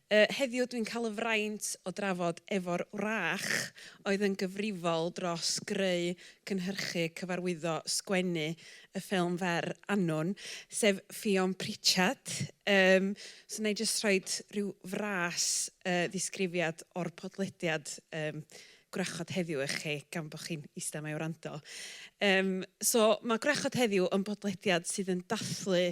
Yy, heddiw dwi'n cael y fraint o drafod efo'r wrach oedd yn gyfrifol dros greu, cynhyrchu, cyfarwyddo, sgwennu y ffilm fer annwn, sef Ffion Pritchard. Yym, so wna i jyst rhoi rhyw fras yy ddisgrifiad o'r podlediad yym gwrachod heddiw i chi gan bod chi'n ista yma i wrando. Um, so, mae gwrachod heddiw yn bodlediad sydd yn dathlu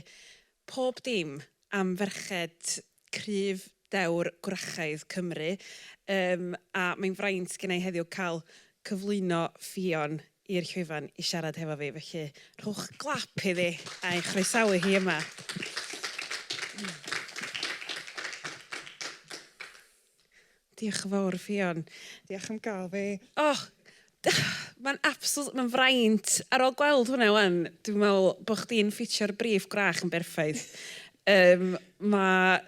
pob dim am ferched cryf dewr gwrachaidd Cymru. Um, a mae'n fraint gen i heddiw cael cyflwyno Ffion i'r llwyfan i siarad hefo fi, felly rhowch glap iddi a'i chroesawu hi yma. Diolch yn fawr, Ffion. Diolch am gael fi. Oh, mae'n absolut, mae'n fraint. Ar ôl gweld hwnna wan, dwi'n meddwl bod chdi'n ffitio'r briff gwrach yn berffaith. Um, mae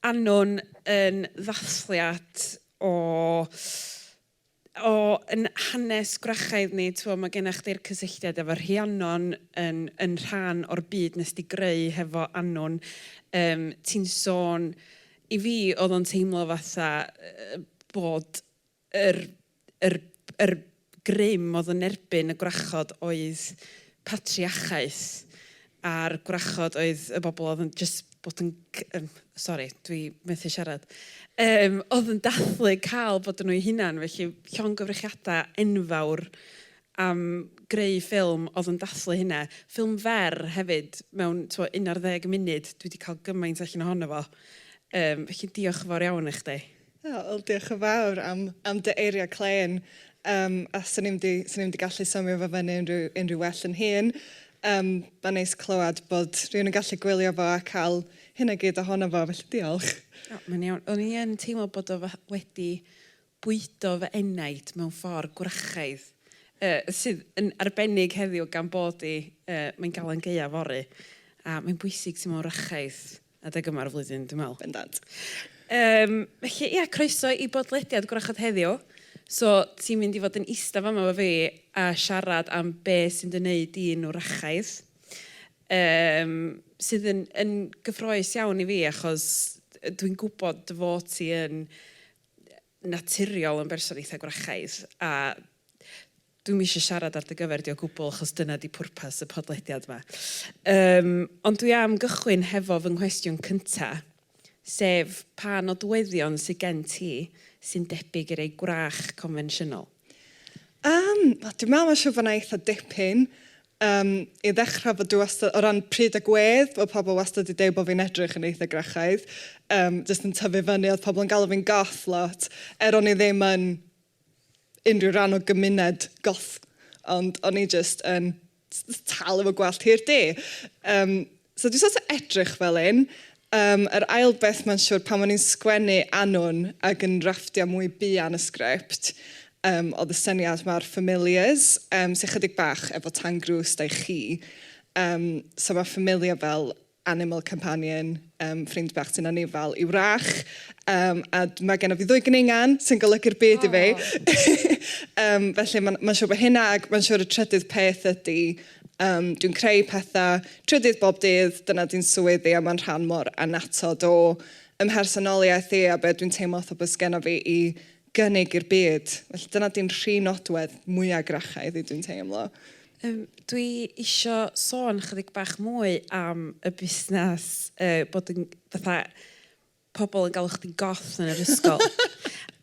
Annon yn ddathliad o o yn hanes gwrachaidd ni t'mo' ma' genna chdi'r cysylltiad efo Rhiannon yn yn rhan o'r byd nes di greu hefo Annwn yym ti'n sôn i fi o'dd o'n teimlo fatha yy bod yr yr yr grym o'dd yn erbyn y gwrachod oedd patriachaeth a'r gwrachod oedd y bobl oedd yn jyst bod yn c- yn... sori, dwi methu siarad, yym oedd yn dathlu cael bod yn nhw'u hunain. Felly, llongyfriciadau enfawr am greu ffilm oedd yn dathlu hynna. Ffilm fer hefyd, mewn tibod un ar ddeg munud, dwi 'di cael gymaint allan ohono fo. Yym felly, diolch yn fawr iawn i chdi. O, wel diolch yn fawr am, am dy eiriau clên. Um, a swn i'n di, swn i'n di gallu symio fo fyny unrhyw, unrhyw well yn hun. Um, Mae'n neis clywed bod rhywun yn gallu gwylio fo a cael hyn a gyd ohono fo, felly diolch. O, mae'n iawn. O'n i yn teimlo bod o wedi bwydo fy enaid mewn ffordd gwrachaidd, uh, sydd yn arbennig heddiw gan bod i, uh, mae'n galan gaeaf fory, a mae'n bwysig teimlo'n wrachaidd. Adeg yma'r flwyddyn, dwi'n meddwl. Bendant. Yym, felly, ia, croeso i bodlediad Gwrachod heddiw. So, ti'n mynd i fod yn ista fama efo fi a siarad am be sy'n dy wneud di'n wrachaidd. Yym, sydd yn, yn gyffroes iawn i fi, achos dwi'n gwybod dy fod ti yn naturiol yn berson eitha gwrachaidd a dwi'm eisiau siarad ar dy gyfer di o gwbl achos dyna di pwrpas y podlediad ma. Yym ond dwi am gychwyn hefo fy nghwestiwn cynta sef pa nodweddion sy gen ti sy'n debyg i rei gwrach confensiynol? Yym wel dwi'n meddwl mae'n siŵr bod 'na eitha dipyn Yym, i ddechrau, fod dwi wastad, o ran pryd a gwedd, bod pobl wastad 'di deud bod fi'n edrych yn eitha Grachaidd. Yym, jyst yn tyfu fyny, oedd pobl yn galw fi'n goth lot, er o'n i ddim yn unrhyw ran o gymuned goth, ond o'n i jyst yn tal efo gwallt hir du. Yym, So dwi sort of edrych fel hyn. Yym, yr ail beth mae'n siwr, pan o'n i'n sgwennu Annwn ac yn rafftiau mwy buan y sgript, yym, oedd y syniad 'ma o'r familiars, yym, sy chydig bach efo Tan Grws, da i chi. Yym, so mae familiar fel animal companion, yym, ffrind bach sy'n anifail i'w rach. Yym, a mae genna fi ddwy gningan sy'n golygu'r byd i fi. Yym, felly mae'n mae'n siwr bod hynna, ac mae'n siwr y trydydd peth ydy, Yym, dwi'n creu petha trydydd bob dydd, dyna di'n swydd fi a mae'n rhan mor annatod o 'y mhersonoliaeth i a be dwi'n teimlo fatha bod sgenna fi i gynnig i'r byd. Felly dyna di'n rhi nodwedd mwya Grachaidd i dwi'n teimlo. Yym, dwi isio sôn chydig bach mwy am y busnes, yy, bod yn fatha pobl yn galw chdi'n goth yn yr ysgol.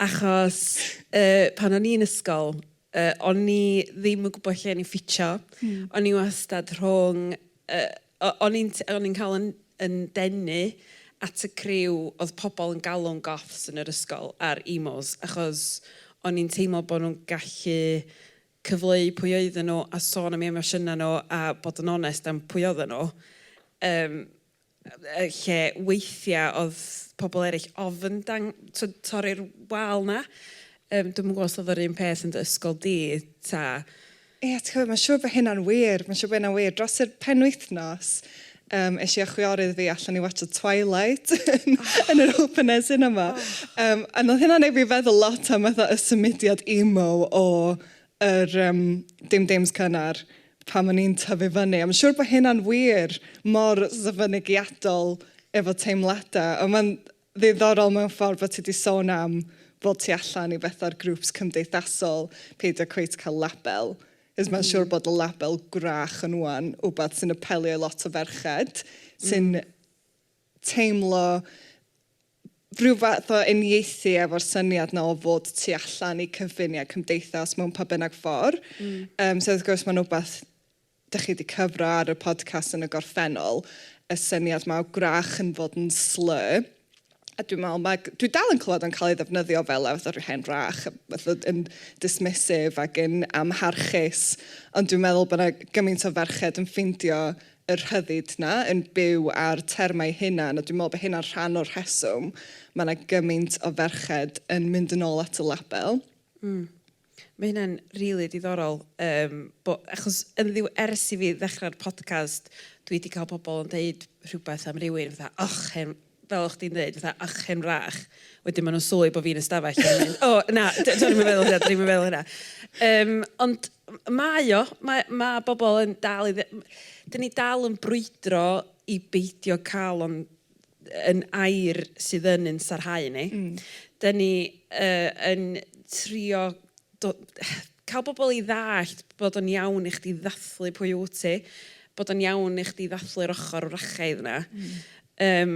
Achos uh, pan o'n i'n ysgol, uh, o'n i ddim yn gwybod lle o'n i'n ffitio. Mm. O'n i wastad rhwng... Uh, o'n i'n cael yn, yn denu at y criw oedd pobl yn galw'n goths yn yr ysgol ar emos, achos o'n i'n teimlo bod nhw'n gallu cyfleu pwy oedden nhw a sôn am eu emosiynau nhw a bod yn onest am pwy oedden nhw. Um, lle weithiau oedd pobl eraill ofn dang- tibod torri'r wal 'na. Yym dwi'm yn gwybod os oedd yr un peth yn dy ysgol di ta? Ie, ti'n gwybod, mae'n siŵr bod hynna'n wir, mae'n siŵr bod hynna'n wir. Dros yr penwythnos, um, es i a chwiorydd fi allan i watch Twilight yn yr open air cinema. Um, a oedd hynna'n ei fi feddwl lot am y symudiad emo o yr um, dim dems cynnar pan o'n i'n tyfu fyny. Am siŵr bod hynna'n wir mor fynegiadol efo teimladau, ond mae'n ddiddorol mewn ffordd bod ti wedi sôn am fod ti allan i fetha'r grwps cymdeithasol, peidio cweit cael label. Ys mae'n siŵr mm. bod y label gwrach yn wan, wbeth sy'n apelio i lot o ferched, sy'n mm. teimlo rhyw fath o uniaethu efo'r syniad 'na o fod tu allan i cyfun ia cymdeithas mewn pa bynnag ffor. Mm. Yym so wrth gwrs ma'n wbath dych chi 'di cyfro ar y podcast yn y gorffennol, y syniad 'ma o gwrach yn fod yn slur, a dwi'n me'wl ma' dwi dal yn clywed o'n cael ei ddefnyddio fel fatha rhyw hen wrach, fatha yn dismissive ac yn amharchus, ond dwi'n meddwl bod 'na gymaint o ferched yn ffeindio y rhyddid 'na, yn byw â'r termau hunan, a dwi'n meddwl bod hynna'n rhan o'r rheswm mae 'na gymaint o ferched yn mynd yn ôl at y label. Mm. Mae hynna'n rili diddorol, yym, bo- achos yn ddiw- ers i fi ddechrau'r podcast, dwi 'di cael pobl yn deud rhywbeth am rywun fatha, 'och, hen fel o'ch chdi'n ddeud, fatha achen rach, wedyn ma' nhw'n sylwi bo' fi'n y stafell a mynd, O, na, d- do'n i'm yn meddwl hynna, do'n i'm yn meddwl hynna. Yym, ond m- mae o, mae, ma' bobl yn dal i dde- m- dan ni dal yn brwydro i beidio cael o'n yn air sydd yn ein sarhau ni. Dan ni yy yn trio do- cael bobl i ddallt bod o'n iawn i chdi ddathlu pwy wyt ti, bod o'n iawn i chdi ddathlu'r ochr wrachaidd 'na. Yym,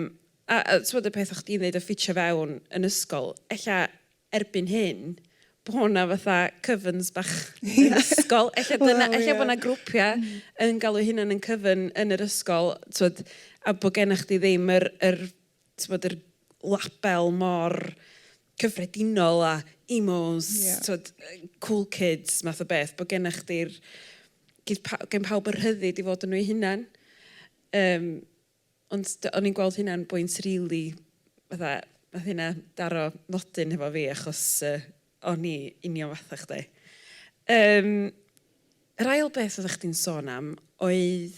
a a t'mod y peth o' chdi'n ddeud o ffitio fewn yn ysgol, ella erbyn hyn bo' 'na fatha cyfyns bach yn ysgol, ella dyna... Wel ie. ...ella bo' 'na grwpia' yn galw 'u hunan yn cyfyn yn yr ysgol, t'mod, a bo' genna chdi ddim yr yr t'mod yr label mor cyffredinol a emos... Ie. ...t'mod yy cool kids math o beth, bod gennych chdi'r gith pa- gen pawb y rhyddid i fod yn nhw eu hunain. Yym ond d- o'n i'n gweld hynna'n bwynt rili fatha wnaeth hynna daro nodyn hefo fi achos yy o'n i union fatha chdi. Yym yr ail beth oeddach chdi'n sôn am oedd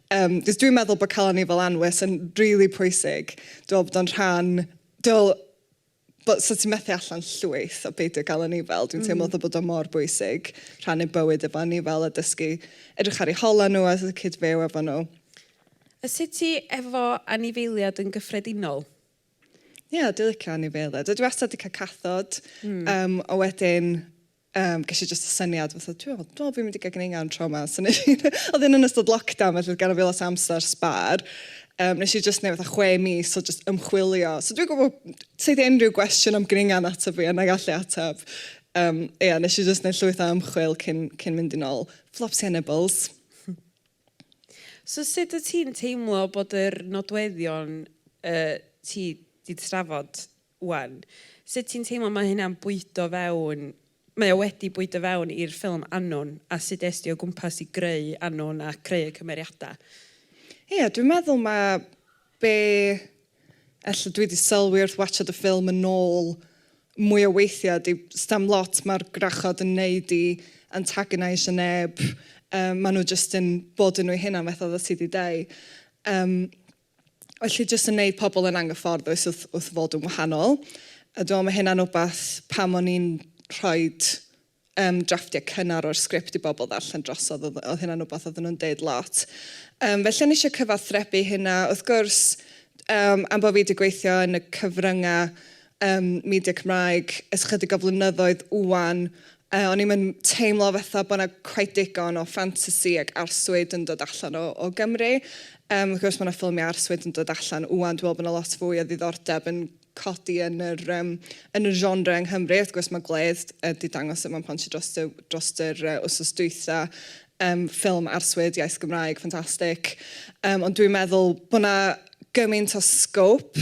Yym, cos dwi'n meddwl bod calon ni fel anwes yn rili pwysig. Dwi'n meddwl bod o'n rhan... Dwi'n meddwl bod... 'sa ti'n methu allan llwyth o beidio gael anifail. Dwi'n teimlo fatha bod o mor bwysig rhannu bywyd efo anifail a dysgu edrych ar eu holau nhw a fatha cyd-fyw efo nhw. A sut ti efo anifeiliaid yn gyffredinol? Ie, dwi'n licio anifeiliaid. Dwi wastad 'di cael cathod. Yym, a wedyn Yym, ges i jyst y syniad fatha, dwi meddwl, dwi meddwl fi'n mynd i gael gneungaun tro 'ma, so wnes i... oedd hyn yn ystod lockdown felly oedd ganddo fi lot o amser sbâr, yym, wnes i jyst wneud fatha chwe mis o jyst ymchwilio. So dwi'n gwybod, tyd unrhyw gwestiwn am gneungaun ato fi a wna i allu ateb. Um, ia, wnes i jyst wneud llwyth o ymchwil cyn, cyn mynd i'n ôl. Flops Hannibals. So sut wyt ti'n teimlo bod yr nodweddion uh, ti wedi trafod Wan. Sut ti'n teimlo mae hynna'n bwydo fewn, mae o wedi bwydo fewn i'r ffilm Annwn a sut es di o gwmpas i greu Annwn a creu y cymeriadau? Ia, dwi'n meddwl ma' be ella dwi di sylwi wrth watsiad y ffilm yn ôl mwy o weithiau ydi, stam lot ma'r gwrachod yn neud i antagonaisio neb, yy ma' nhw jyst yn bod yn nhw'u hunan fatha oeddet ti di deu. Yym. Felly jyst yn wneud pobl yn anghyfforddus wrth, wrth fod yn wahanol. A dwi'n meddwl mae hynna'n wbath pam o'n i'n rhoi um, drafftiau cynnar o'r sgript i bobl ddarllen drosodd, oedd, oedd hynna'n wbath oedden nhw'n deud lot. Um, felly o'n eisiau cyfathrebu hynna. Wrth gwrs, um, am bod fi wedi gweithio yn y cyfryngau ym media Cymraeg ers chydig o flynyddoedd ŵan. O'n i'm yn teimlo fatha bod 'na cweit digon o ffantasi ac arswyd yn dod allan o o Gymru. Yym wrth gwrs ma' 'na ffilmiau arswyd yn dod allan ŵan, dwi me'wl bo' 'na lot fwy o ddiddordeb yn codi yn yr yym yn y genre yng Nghymru. Wrth gwrs ma' Gwledd yy 'di dangos e mewn pontio drost y drost yr yy wsos dwytha, yym ffilm arswyd iaith Gymraeg ffantastig. Yym ond dwi'n meddwl bo' 'na gymaint o sgôp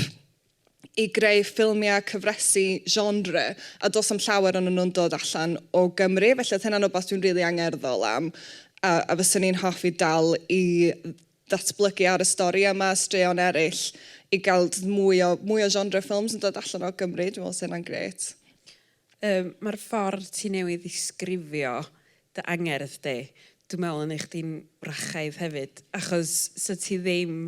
i greu ffilmiau cyfresi genre a does na'm llawer onyn nhw'n dod allan o Gymru felly oedd hynna'n wbath dwi'n rili angerddol am a a fyswn i'n hoffi dal i ddatblygu ar y stori yma a straeon eraill i gael mwy o mwy o genre ffilms yn dod allan o Gymru dwi'n meddwl 'sa hynna'n grêt. Yym ma'r ffordd ti newydd ddisgrifio dy angerdd di, dwi'n meddwl yn neu' chdi'n wrachaidd hefyd achos sa ti ddim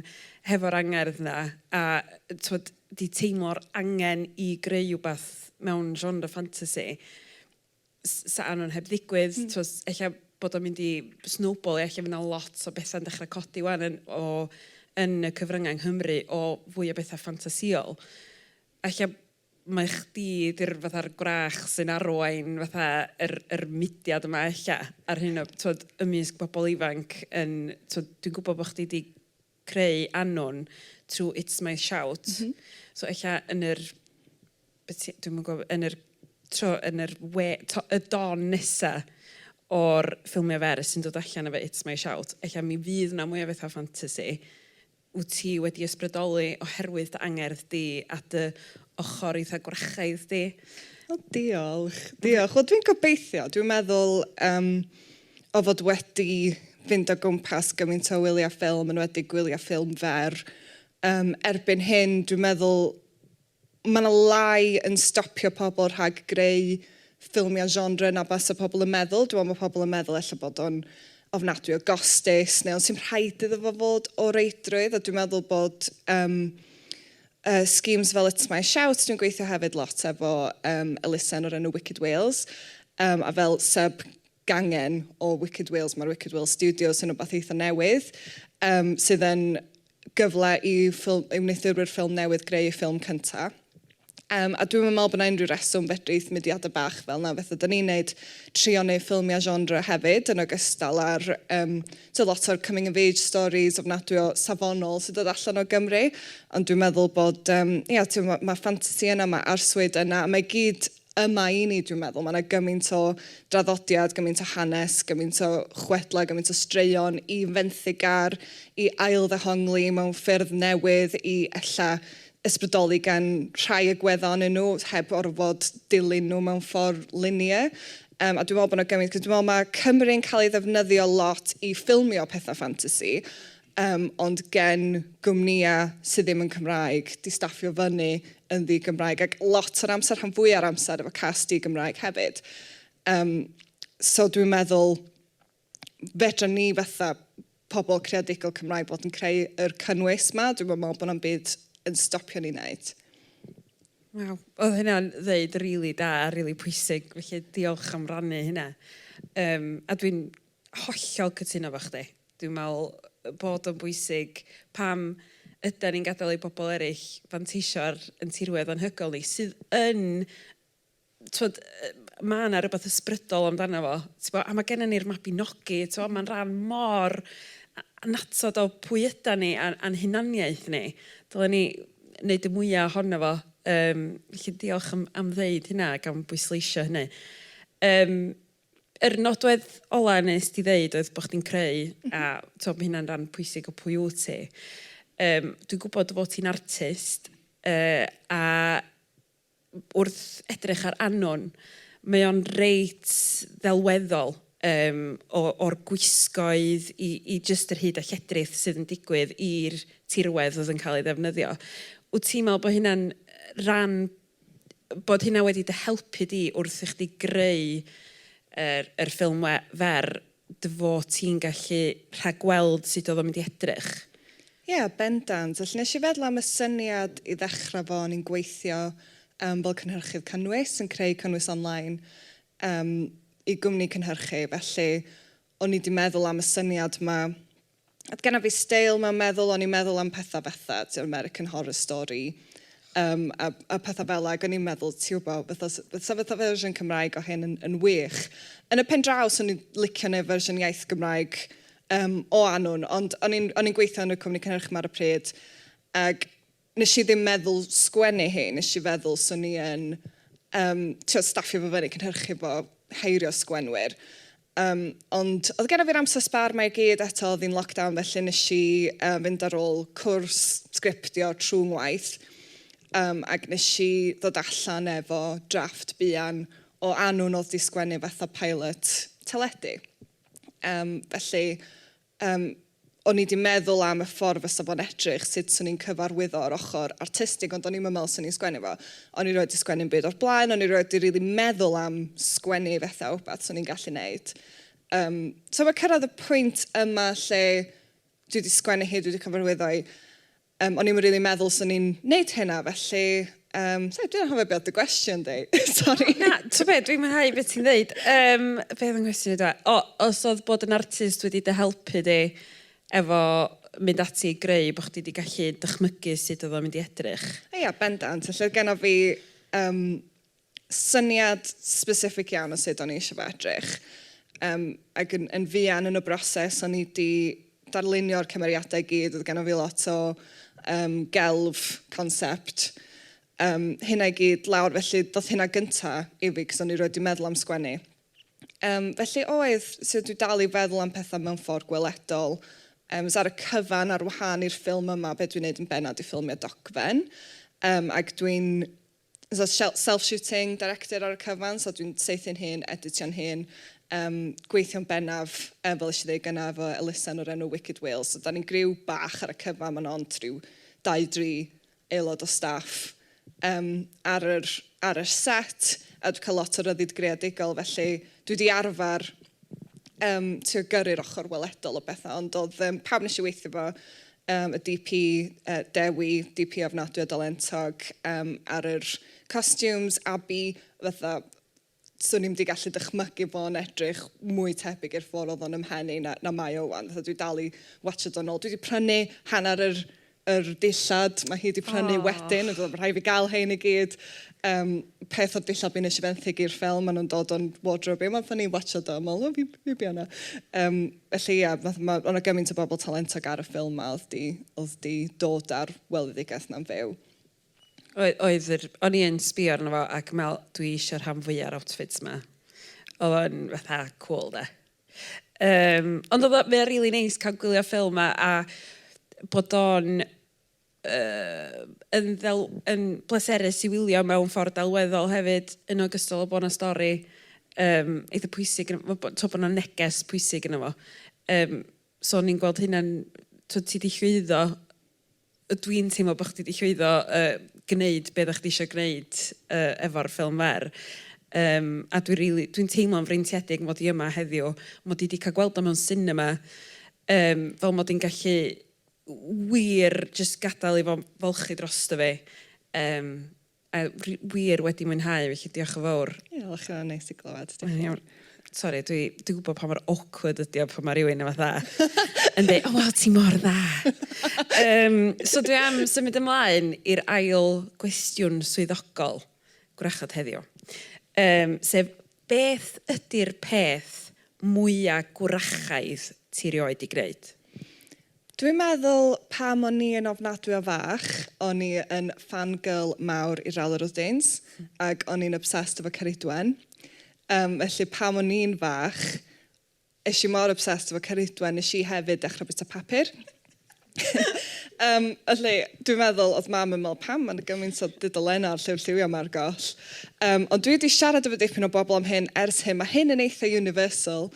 hefo'r angerdd 'na a t'mod 'di teimlo'r angen i greu wbath mewn genre ffantasi s- sa Anwen heb ddigwydd t'mod ella bod o'n mynd i snowbalio ella fydd 'na lot o betha'n dechra codi 'wan yn o yn y cyfrynga yng Nghymru o fwy o betha ffantasiol a ella mae chdi 'di'r fatha'r gwrach sy'n arwain fatha yr yr mudiad yma ella ar hyn o t'wod ymysg pobl ifanc yn t'wod dwi'n gwybod bod chdi 'di creu anwn trwy It's My Shout... M-hm. ...so ella yn yr be' ti dwi'm yn gwybod yn yr tro yn yr we- t'o' y don nesa o'r ffilmiau fer sy'n dod allan efo It's My Shout ella mi fydd 'na mwy o fatha ffantasi. Wyt ti wedi ysbrydoli oherwydd dy angerdd di a dy ochr eitha gwrachaidd di? O diolch, diolch. Wel dwi'n gobeithio, dwi'n meddwl um, o fod wedi fynd o gwmpas gymaint o wyliau ffilm, yn wedi gwyliau ffilm fer, um, erbyn hyn dwi'n meddwl Mae yna lai yn stopio pobl rhag greu ffilmiau genre na base pobl yn meddwl. Dwi'n meddwl mae pobl yn meddwl ella bod o'n ofnadwy o gostus neu ond sy'n rhaid iddo fo fod o reidrwydd a dwi'n meddwl bod um, uh, schemes fel It's My Shout, dwi'n gweithio hefyd lot efo um, elusen o'r enw Wicked Wales um, a fel sub gangen o Wicked Wales, mae'r Wicked Wales Studios yn rhywbeth eitha newydd um, sydd yn gyfle i ffilm, i wneuthurwyr ffilm newydd greu eu ffilm cynta. Um, a dwi'm yn meddwl bod yna unrhyw reswm fedrith mudiadau bach fel yna, fatha da ni'n neud, trio neud ffilmiau genre hefyd, yn ogystal ar um, so lot o'r coming of age stories ofnadwy o safonol sy'n dod allan o Gymru. Ond dwi'n meddwl bod, um, ia, mae ma ffantasi yna, mae arswyd yna, a mae gyd yma i ni, dwi'n meddwl. Mae yna gymaint o draddodiad, gymaint o hanes, gymaint o chwedlau, gymaint o straeon i fenthyg ar, i ailddehongli mewn ffyrdd newydd, i ella ysbrydoli gan rhai agweddau onyn nhw, heb orfod dilyn nhw mewn ffordd linear. Um, a dwi'n meddwl bod yna gymaint, cos dwi'n meddwl mae Cymru'n cael ei ddefnyddio lot i ffilmio pethau ffantasi, Yym, ond gen gwmnïau sydd ddim yn Cymraeg, di staffio fyny yn ddi-Gymraeg, ac lot o'r amser, rhan fwya o'r amser, efo cast di-Gymraeg hefyd. Yym, so dwi'n meddwl, fedra ni fatha pobl creadigol Cymraeg fod yn creu yr cynnwys ma, dwi'm yn meddwl bod na'm byd yn stopio ni neud. Waw, oedd hynna'n ddeud rili da a rili pwysig, felly diolch am rannu hynna. Yym, a dwi'n Hollol cytuno efo chdi. Dwi'n meddwl bod o'n bwysig pam ydan ni'n gadael i bobl eraill fanteisio ar ein tirwedd anhygoel ni, sydd yn, tibod, ma' 'na rywbeth ysbrydol amdano fo, tibod, a ma' gennym ni'r Mabinogi, tibod, mae'n rhan mor annatod o pwy ydan ni a- a'n hunaniaeth ni. Dylen ni wneud y mwya' ohono fo. Yym, felly diolch am am ddeud hynna ac am bwysleisio hynny. Yym. Yr nodwedd ola nes di ddeud oedd bod chdi'n creu a t'o' ma' hynna'n ran pwysig o pwy wt ti. Yym dwi'n gwbod dy fod ti'n artist yy a wrth edrych ar Anwn mae o'n reit ddelweddol yym o o'r gwisgoedd i i jyst yr hud a lledrith sydd yn digwydd i'r tirwedd oedd yn cael ei ddefnyddio. Wt ti'n me'wl bo' hynna'n ran bod hynna wedi dy helpu di wrth i chdi greu yr yr ffilm we- fer dy fod ti'n gallu rhagweld sut oedd o'n mynd i edrych? Ie, bendant. Felly nes i feddwl am y syniad i ddechrau 'fo, o'n i'n gweithio yym fel cynhyrchydd cynnwys, yn creu cynnwys online yym i gwmni cynhyrchu, felly o'n i 'di meddwl am y syniad 'ma Oedd genna fi steil mewn meddwl, o'n i'n meddwl am pethau fatha, ti'n gwbod, American Horror Story yym a a pethau fel 'na ac o'n i'n meddwl, ti'n gwbod, fatha 'sa fatha 'sa fatha fersiwn Cymraeg o hyn yn yn wych. Yn y pen draw 'swn i'n licio wneud fersiwn iaith Gymraeg yym o Annwn, ond o'n i'n o'n i'n gweithio yn y cwmni cynhyrchu 'ma ar y pryd ac Nes i ddim meddwl sgwennu hi, nes i feddwl swn i yn yym t'wod staffio fo fyny, cynhyrchu fo, heirio sgwennwyr. Yym ond o'dd genna fi'r amser sbâr 'ma i gyd, eto o'dd hi'n lockdown felly nes i yy fynd ar ôl cwrs sgriptio trw' ngwaith yym ag nes i ddod allan efo drafft buan o annwn o'dd 'di sgwennu fatha pilot teledu. Yym felly Yym, o'n i 'di meddwl am y ffordd fysa fo'n edrych, sut 'swn i'n cyfarwyddo yr ochr artistig, ond o'n i'm yn meddwl 'swn i'n sgwennu fo. O'n i 'rioed 'di sgwennu 'm byd o'r blaen, o'n i 'rioed 'di rili meddwl am sgwennu fetha wbath 'swn i'n gallu neud. Yym, t'o' ma' cyrradd y pwynt yma lle dwi 'di sgwennu hi, dwi 'di cyfarwyddo 'i, Yym o'n i'm yn rili meddwl swn i'n neud hynna felly yym sori dwi'n anghofio be oedd dy gwestiwn di sori. Na ti'n be dwi'n mwynhau be ti'n ddeud yym be oedd fy nghwestiwn i dwa? O os oedd bod yn artist wedi dy helpu di efo mynd ati i greu bod chdi di gallu dychmygu sut oedd o'n mynd i edrych? Ia bendant felly oedd genna fi yym syniad specific iawn o sut o'n i eisiau fo edrych yym ac yn yn fuan yn y broses o'n i 'di darlunio'r cymeriadau i gyd, oedd genna fi lot o yym gelf concept yym hynna i gyd lawr felly ddoth hynna gynta' i fi cos o'n i 'rioed 'di meddwl am sgwennu. Yym felly oedd, so dwi dal i feddwl am pethau mewn ffordd gweledol yym so ar y cyfan ar wahân i'r ffilm yma be dwi'n wneud yn bennaf 'di ffilmio dogfen yym ac dwi'n so self-shooting, director ar y cyfan, so dwi'n saethu'n hun, editio'n hun, um, gweithio'n bennaf, um, fel eisiau dweud gyna, efo Elisa yn o'r enw Wicked Wales. So da ni'n griw bach ar y cyfan, mae'n ond rhyw dau dri aelod o staff um, ar, yr, ar yr set, a dwi'n cael lot o ryddid greadigol, felly dwi wedi arfer um, trio gyrru'r ochr weledol o bethau, ond oedd um, pawb nes i weithio fo, Yym, y DP, yy, Dewi, DP ofnadwy o dalentog, yym, ar yr costumes, Abi, fatha, 'swn i'm 'di gallu dychmygu fo'n edrych mwy tebyg i'r ffor oedd o'n 'y mhen i na na mae o 'wan, fatha dwi dal i watsiad o'n ôl. Dwi 'di prynu hanner yr yr dillad ma' hi 'di prynu... O! ...wedyn, ond rhaid fi gael rhein i gyd. Yym, peth o'r dillad fi wnes i fenthyg i'r ffilm, maen nhw'n dod o'n wardrobe i, ond wnaethon ni watsiad o a meddwl, o, fi fi biau 'na. Yym. Felly ia, fatha ma'... o' 'na gymaint o bobl talentog ar y ffilm 'ma oedd 'di oedd 'di dod â'r weledigaeth 'na'n fyw. Oedd oedd yr... o'n i yn sbio arno fo ac me'l dwi isio rhan fwya o'r outfits 'ma. Oedd o'n fatha cŵl 'de. Yym ond oedd o... mae o'n rili neis cael gwylio ffilm a a bod o'n yn ddel- yn bleserus i wylio mewn ffordd delweddol hefyd yn ogystal â bod 'na stori yym eitha pwysig yn y... t'o' bod 'na neges pwysig yno fo yym so o'n i'n gweld hynna'n t'o' ti 'di llwyddo yy dwi'n teimlo bo' chdi 'di llwyddo yy gneud be' oddach chdi isio gneud yy efo'r ffilm fer yym a dwi rili dwi'n teimlo'n freintiedig mod i yma heddiw mod i 'di ca'l gweld o mewn sinema yym fel mod i'n gallu wir jyst gadael i fo folchi drosto fi yym a wi wir wedi mwynhau felly diolch yn fowr. Diolch ma'n neis i glywed. Mae'n iawn. Sori dwi dwi gwbo pa mor awkward ydi o pan ma' rywun yn fatha yn deu o waw ti mor dda. Yym so dwi am symud ymlaen i'r ail gwestiwn swyddogol gwrachod heddiw. Yym sef Beth ydy'r peth mwya gwrachaidd ti 'rioed 'di gneud? Dwi'n meddwl pam o'n i yn ofnadwy o fach, o'n i yn fan girl mawr i Rowley Rose Danes, ac o'n i'n obsessed efo Ceridwen. Yym, felly pam o'n i'n fach, Es i mor obsessed efo Ceridwen, nes i hefyd ddechrau bwyta papur. um, felly, dwi'n meddwl, oedd mam yn meddwl, pam mae'n gymaint o dudolennau ar lliw lliwio mae'r goll. Um, ond dwi wedi siarad efo dipyn o bobl am hyn ers hyn. Mae hyn yn eitha universal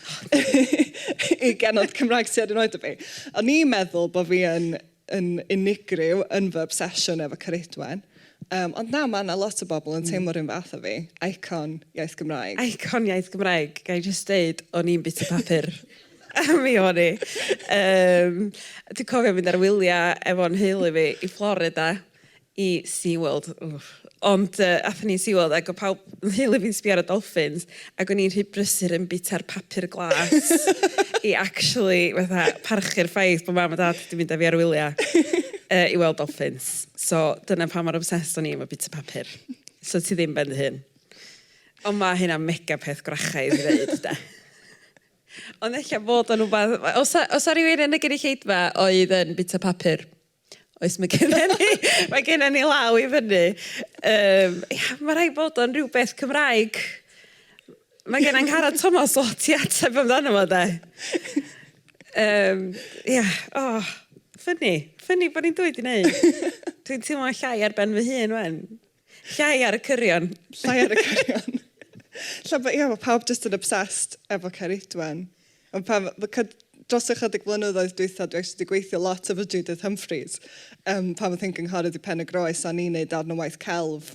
i genod Cymraeg sydd yn oed o fi. O'n i'n meddwl bod fi yn yn unigryw yn fy obsesiwn efo Ceridwen. Yym, ond na, ma' 'na lot o bobl yn teimlo'r un fath â fi. Icon iaith Gymraeg. Icon iaith Gymraeg. Ga i jyst deud, o'n i'n bwyta papur. Mi o'n i. Yym, dwi'n cofio mynd ar wyliau efo 'nhheulu fi i Florida. i Sea World wff ond yy athon ni i Sea World ag o' pawb fy nheulu fi'n sbio ar y dolffins ag o'n i'n rhy brysur yn bita'r papur glas i actually fatha parchu'r ffaith bo' mam a dad 'di mynd â fi ar wylia yy i weld dolffins so dyna pam mor obsessed o'n i efo bita papur so ti ddim ben dy hun ond ma' hynna'n mega peth gwrachaidd i ddeud 'de ond ella bod o'n wbath os a- os a rywun yn y gynulleidfa oedd yn bita papur Oes, mae gennym ni, mae gennym ni law i fyny. Um, ia, mae rhaid bod o'n rhywbeth Cymraeg. Mae gen Angharad Thomas o ti ateb amdano fo, de. Um, ia, o, oh, ffynnu. Ffynnu bod ni'n dweud i wneud. Dwi'n teimlo llai ar ben fy hun, wen. Llai ar y cyrion. Llai ar y cyrion. Lle bod, ia, mae pawb just yn obsessed efo Ceridwen. Ond pan, dros ychydig flynyddoedd dwytha, dwi actually wedi gweithio lot efo Judith Humphreys, um, pan oedd hi'n gynghorydd i Pen y Groes, a ni'n neud darn o waith celf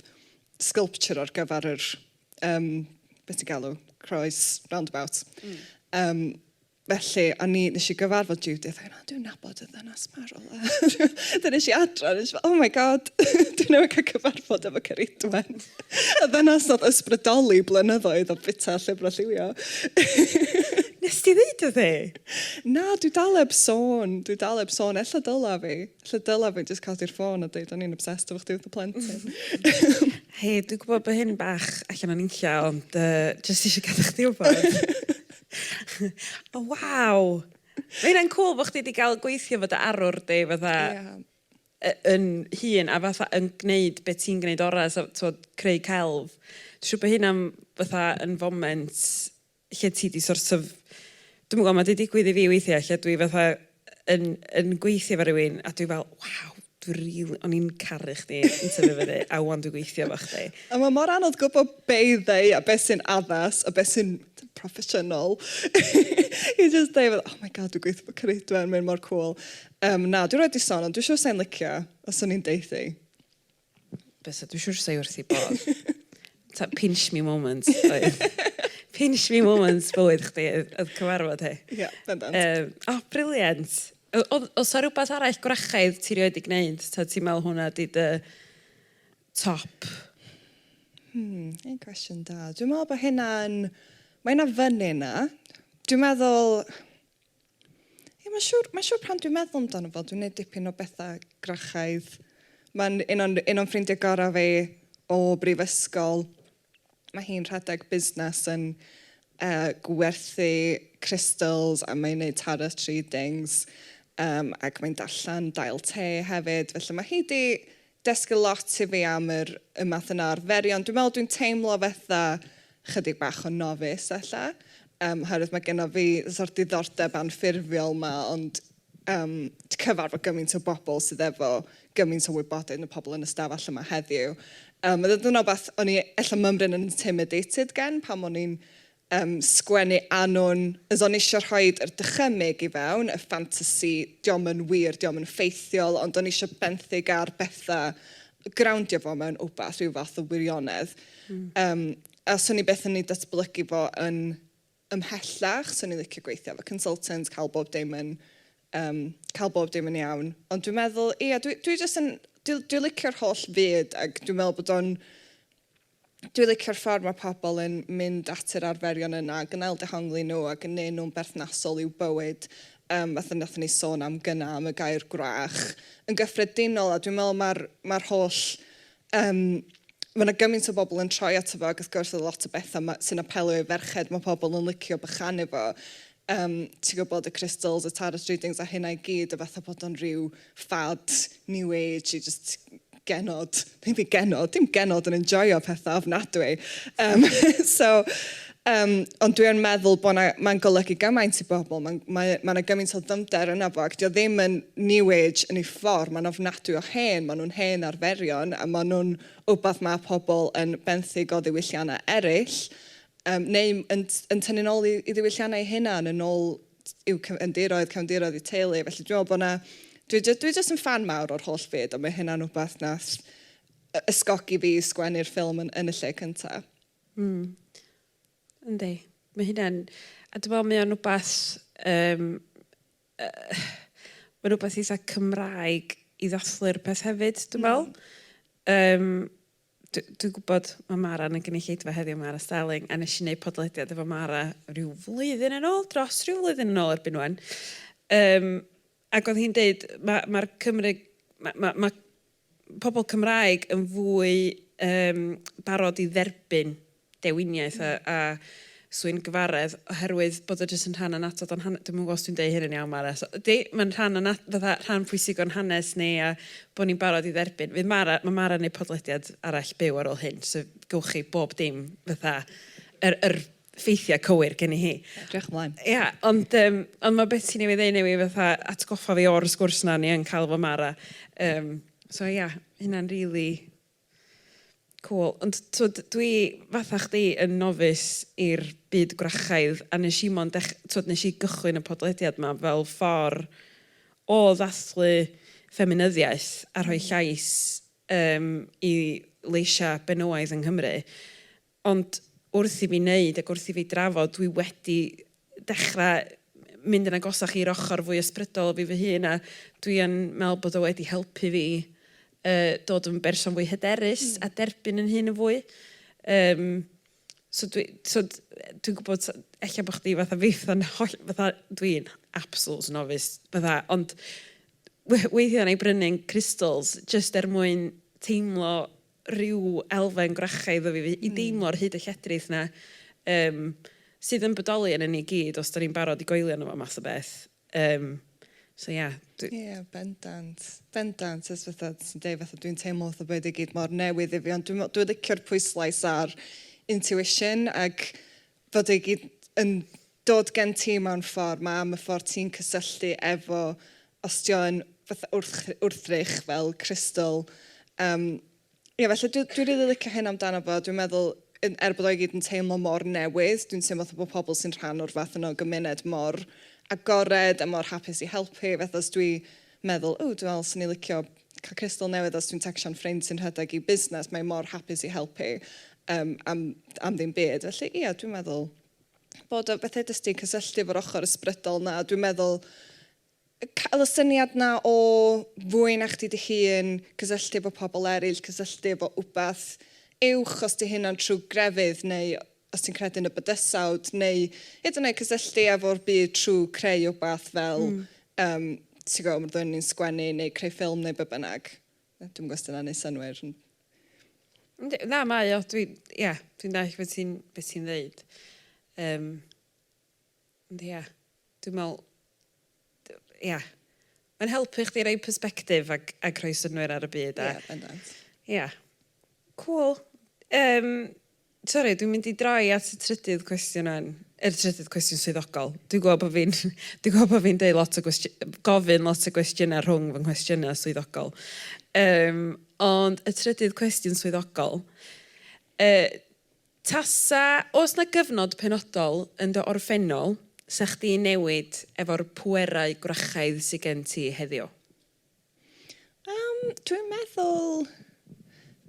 sculpture ar gyfer yr, um, beth ti'n galw, croes roundabout. Mm. Um, Felly, o'n i... wnes i gyfarfod Judith ac o'n i fel, dwi'n nabod y ddynes 'ma o rywle. Wedyn es i adra a es i fel, oh my God, dwi newydd cael cyfarfod efo Ceridwen. y ddynes oedd ysbrydoli blynyddoedd o bwyta llyfrau lliwio. Nes ti ddeud wrth e? Na, dwi dal eb sôn. Dwi dal eb sôn. Ella dyla fi. Ella dyla fi jyst codi'r ffôn a dweud o'n i'n obsessed efo chdi wrth y plentyn. Hei, dwi'n gwybod bod hyn bach allan o'n inciau, ond uh, jyst eisiau gadw chdi wybod. O, waw! Mae hynna'n cwl bod chdi wedi cael gweithio fod dy arwr di, fatha... Ie. ...y- yn hun, a fatha yn gwneud be ti'n gwneud orau, so tibod, creu celf. Dwi'n siŵr bod hynna'n fatha yn foment lle ti di sort of... Dwi'm yn gwybod, mae di digwydd i fi weithiau lle dwi fatha yn yn gweithio efo rhywun a dwi fel, waw! Dwi rili... o'n i'n caru chdi yn tyfu fyny a 'wan dwi'n gweithio efo chdi. A mae mor anodd gwybod be i ddweud a beth sy'n addas a beth sy'n proffesiynol i jyst dweud fel, oh my god dwi'n gweithio efo Ceridwen, mae'n mor cŵl. Yym na, dwi erioed 'di son ond dwi'n siŵr 'sa hi'n licio os o'n i'n deutha i. Bysa, dwi'n siŵr 'sa hi wrth ei bodd. ta, pinch me moments oedd. pinch me moments bywyd chdi oedd, oedd cyfarfod hi. Ie, yeah, bendant. Um, o, oh, briliant. Os o rhywbeth arall gwrachaidd ti rioed i gwneud, ta ti'n meddwl hwnna di dy top? Hmm, un cwestiwn da. Dwi'n meddwl bod hynna'n... Mae hynna fyny yna. Dwi'n meddwl... Ie, mae'n siŵr, mae'n siŵr pan dwi'n meddwl amdano fo, dwi'n gwneud dipyn o bethau grachaidd. Mae'n un o'n, un o'n ffrindiau gorau fi o brifysgol. Mae hi'n rhedeg busnes yn uh, gwerthu crystals a mae'n gwneud tarot readings um, ac mae'n darllen dail te hefyd. Felly mae hi di dysgu lot i fi am yr y math yna o arferion. Dwi'n meddwl dwi'n teimlo fatha chydig bach o nofis ella, um, oherwydd mae genno fi sort diddordeb anffurfiol ma, ond um, cyfarfod gymaint o bobl sydd efo gymaint o wybodaeth yn y pobl yn y stafell yma heddiw. Um, mae dyna beth o'n i ella mymryn yn intimidated gen pan o'n i'n Yym, sgwennu annwn. Os o'n isio rhoid yr dychymyg i fewn, y ffantasi, diom yn wir, diom yn ffeithiol, ond o'n isio benthyg ar betha, growndio fo mewn wbath, rhyw fath o wirionedd. Yym, a swn i byth yn ei datblygu fo yn ymhellach, swn i'n licio gweithio efo consultant, cael bob dim yn yym cael bob dim yn iawn. Ond dwi'n meddwl, ia, dwi dwi jyst yn, dwi dwi licio'r holl fyd ac dwi'n meddwl bod o'n Dwi licio'r ffordd mae pobl yn mynd at yr arferion yna, gwneud dehongli nhw a gwneu nhw'n berthnasol i'w bywyd, yym fatha wnaethon ni sôn am gynna' am y gair 'gwrach'. Yn gyffredinol, a dwi'n meddwl mae'r mae'r holl yym mae 'na gymaint o bobl yn troi ato fo ac wrth gwrs oedd lot o bethau ma' sy'n apelio i ferched mae pobl yn licio bychanu fo Yym, ti'n gwybod, y crystals, y tarot readings a hynna i gyd, a fatha bod o'n rhyw fad new age i jyst genod, ddim byd genod, dim genod yn enjoio pethau ofnadwy. Um, so, um, ond dwi yn meddwl bod mae'n golygu gymaint i bobl, mae'n mae, mae yna gymaint o ddymder yna fo, ac dio ddim yn new age yn ei ffordd, mae'n ofnadwy o hen, maen nhw'n hen arferion, a maen nhw'n wbath mae pobl yn benthyg o ddiwylliannau eraill, Yym, neu yn yn tynnu'n ôl i i ddiwylliannau eu hunan, yn ôl i'w cyfandiroedd, cefndiroedd eu teulu. Felly dwi'n meddwl bod 'na... dwi jys- dwi jyst yn ffan mawr o'r holl fyd, a mae hynna'n wbath wnaeth y- ysgogi fi i sgwennu'r ffilm yn yn y lle cynta. Mm. Yndi. Mae hynna'n... A dwi'n meddwl mae o'n wbath yym yy mae'n wbath eitha' Cymraeg i ddathlu'r peth hefyd dwi'n meddwl. Mm. Yym. Dw- dwi'n gwybod mae Mara yn y gynulleidfa heddiw, Mara Starling, a nes i wneud podlediad efo Mara rhyw flwyddyn yn ôl, dros rhyw flwyddyn yn ôl erbyn ŵan. Um, ac oedd hi'n deud, mae ma Cymru, mae ma, ma pobl Cymraeg yn fwy um, barod i dderbyn dewiniaeth a a swyngyfaredd oherwydd bod o jyst yn rhan annatod o'n han- dwi'm yn gwybod os dwi'n deud hyn yn iawn Mara so ydi mae'n rhan anna- fatha rhan pwysig o'n hanes ni a bod ni'n barod i dderbyn fydd Mara ma' Mara'n neud podlediad arall byw ar ôl hyn so gewch chi bob dim fatha yr yr ffeithiau cywir geni hi. Diolch yn flaen. Ia ond yym ond ma' beth ti newydd ddeud newydd fatha atgoffa fi o'r sgwrs na o'n i yn cael efo Mara yym so ia hynna'n rili Cŵl. Ond tibod, dwi fatha chdi yn nofis i'r byd gwrachaidd a wnes i mond dech-... tibod, wnes i gychwyn y podlediad 'ma fel ffordd o ddathlu ffeminyddiaeth a rhoi llais yym i leisiau benywaidd yng Nghymru. Ond wrth i fi wneud ac wrth i fi drafod, dwi wedi dechrau mynd yn agosach i'r ochr fwy ysbrydol o fi fy hun, a dwi yn meddwl bod o wedi helpu fi dod yn berson fwy hyderus a derbyn yn hun yn fwy. Yym, so dwi, tibod, dwi'n gwybod ella bod chdi fatha fi, fatha holl- fatha dwi'n absolute novice, fatha, ond weithiau wna i brynu'n crystals jyst er mwyn teimlo rhyw elfen gwrachaidd o fi, fi... i deimlo ar hyd y lledrith 'na, yym, sydd yn bodoli ynon ni i gyd os 'dan ni'n barod i goelio yno fo math o beth. Yym, so ia, dwi... Ia, bendant. Bendant. Jyst fatha ti sy'n deud, fatha dwi'n teimlo fatha bod e 'di gyd mor newydd i fi, ond dwi me'wl, dwi licio'r pwyslais ar intuition ag fod e gyd yn dod gen ti mewn ffordd, mae am y ffordd ti'n cysylltu efo, os ti yn fatha wrth, wrthrych fel crystal. Um, ie, felly dwi'n dwi really licio hyn amdano fo, dwi'n meddwl, er bod o'i gyd yn teimlo mor newydd, dwi'n teimlo fatha bod pobl sy'n rhan o'r fath yno gymuned mor agored a mor hapus i helpu, fath os dwi meddwl ww dwi'n meddwl swn i licio cael cystal newydd os dwi'n tecsio'n ffrind sy'n rhedeg i busnes mae mor hapus i helpu yym am am ddim byd felly ia dwi'n meddwl bod o bethau jyst i cysylltu efo'r ochr ysbrydol 'na a dwi'n meddwl cael y syniad 'na o fwy na chdi dy hun cysylltu efo pobl eraill cysylltu efo wbath uwch os 'di hynna'n trwy grefydd neu os ti'n credu yn y bydysawd, neu hyd yn oed cysylltu efo'r byd trwy creu wbath fel, yym, ti'n gwybod, roeddwn ni'n sgwennu neu creu ffilm neu be bynnag. Dwi'm yn gwybod os 'di hynna'n neud synnwyr. Yndi, na, mae o, dwi, ia, dwi'n dallt beth ti'n, beth ti'n ddeud. Yym, ond ia, dwi'n meddwl, ia, mae'n helpu chdi roi persbectif ac ac rhoi synnwyr ar y byd a... Ia, bendant. Ia. Cŵl. Yym, sori, dwi'n mynd i droi at y trydydd cwestiwn ŵan, yr trydydd cwestiwn swyddogol. Dwi'n gweld bo' fi'n dwi'n gweld bo' fi'n deud lot o gwesti- yy gofyn lot o gwestiyna rhwng fy nghwestiyna swyddogol. Yym, ond y trydydd cwestiwn swyddogol, yy, Tasa oes 'na gyfnod penodol yn dy orffennol 'sa chdi'n newid efo'r pwerau gwrachaidd sy gen ti heddiw? Yym, dwi'n meddwl,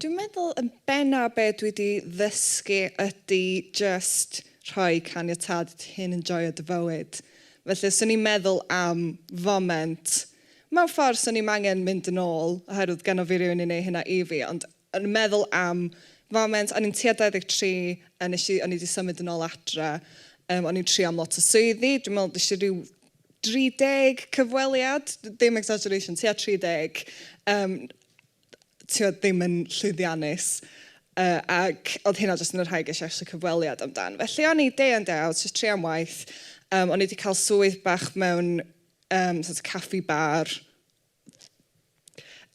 dwi'n meddwl yn benna' be' dwi 'di ddysgu ydi jyst rhoi caniatâd i dy hun enjoio dy fywyd. Felly os o'n i'n meddwl am foment, mewn ffordd 'swn i'm angen mynd yn ôl oherwydd gynno fi rywun i neu' hynna i fi ond yn meddwl am foment, o'n i'n tua 23 a nes i, o'n i 'di symud yn ôl adre, yym o'n i'n trio am lot o swyddi, dwi'n meddwl des i ryw 30 cyfweliad, dim exaggeration, tua 30, yym tibod ddim yn llwyddiannus, yy ac oedd hynna jyst yn y rhai ges i actually cyfweliad amdan. Felly o'n i day in day out jyst trio am waith, yym o'n i 'di cael swydd bach mewn yym sort of caffi bar